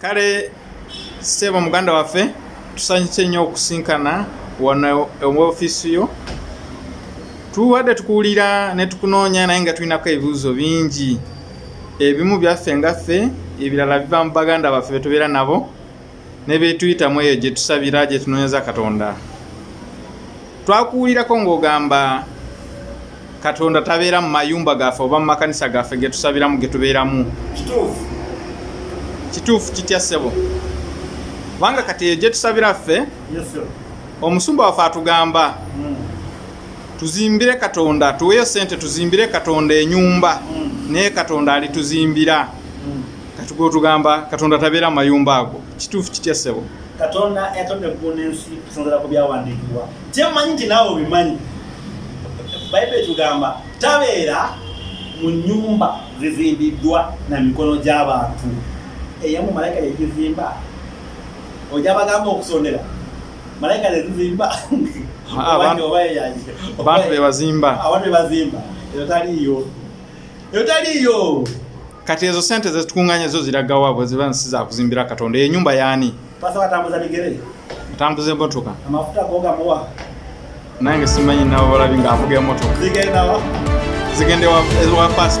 kale sebo muganda waffe tusanyuse nnyo okusinkana wano mu ofiisi yo tuwadde tukuwulira ne tukunoonya naye nga tulinako ebibuuzo bingi ebimu byaffe ngaffe ebirala biva mu baganda baffe betubeera nabo ne byetuyitamu eyo gye tusabira gye tunoonyeza katonda twakuwulirako ng'ogamba katonda tabeera mu mayumba gaffe oba mu makanisa gaffe getusabiramu getubeeramu kituufu kituufu kitya ssebo kubanga kati eyo gyetusabira ffe omusumba waffe atugamba hmm. tuzimbire katonda tuweyo sente tuzimbire katonda enyumba hmm. naye katonda alituzimbira hmm. kati gwotugamba katonda tabeera mu mayumba ago kituufu kitya ssebo katonda yatonda eggulu n'ensi kusinzira ku byawandiikibwa kyemmanyi nti naawe obimanyi bayibuli etugamba tabeera mu nyumba zizimbiddwa na mikono gy'abantu eyamu malayika yegizimba oja bagamba okusondera malayika zezizimba abantu bebazimba abantu bebazimba eyo taliiyo eyo taliiyo kati ezo sente zetukunganya zo ziragawa bwe ziba nsi zakuzimbira katonda eyo nyumba yaani atambuza emotoka nange simanyi nabo balabi nga avuga emotoka zigende wa past